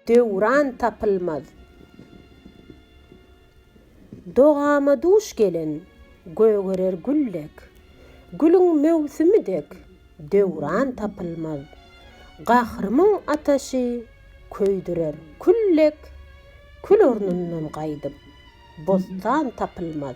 Döwran tapylmaz. Dogama duş gelen gögerer gül dek, Gülüň möwsümi dek döwran tapylmaz. Gahrymyň ataşy köýdürer kül dek, Kül ornundan gaýdyp, bossan tapylmaz.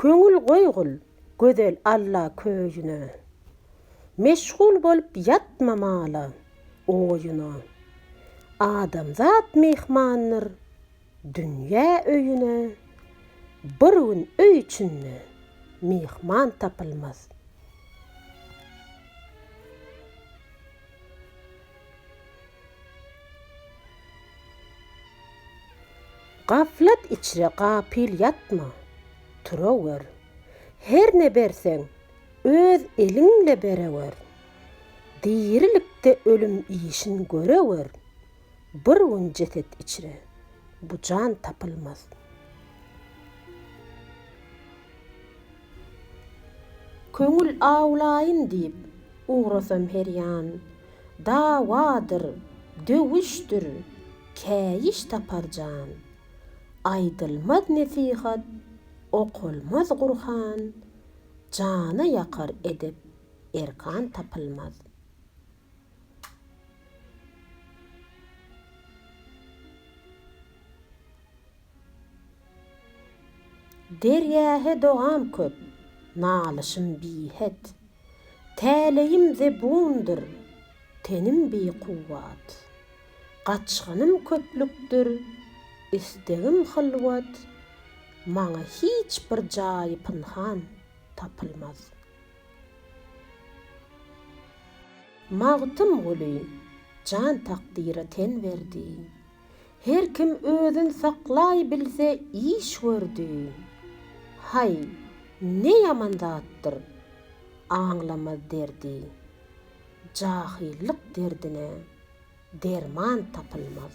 Köňül goýgul gözel Alla köýüne, Meşgul bolup ýatma mala, oýuna. Adamzat myhmandyr dünýä öýüne, Bir gün öý içinde myhman tapylmaz. Gaflat içre gapyl ýatma, turawör. Her ne berseň, öz eliňle berewer. Dirilikde ölüm işin görewer. Bir gün jeset içre, bu jan tapylmaz. Köňül awlaýyn diýip, ugrasam her ýan, Dawadyr, döwüşdir, käýiş tapar jan. Aýdylmaz nesihat, okalmaz Gurhan, Jana ýakar edep, erkan tapylmaz. Derýa-he dogam köp, nalyşym bihet. Täleýim zebundyr, tenim bikuwwat. Gaçgynym köplükdir, istegim hylwat. Maňa hiç bir jaýy pynhan tapylmaz. Magtymguly jan takdyra ten berdi. Her kim özün saklaý bilse iş gördi. Haý, ne ýaman zatdyr, aňlamaz derdi. Jahyllyk derdine derman tapylmaz.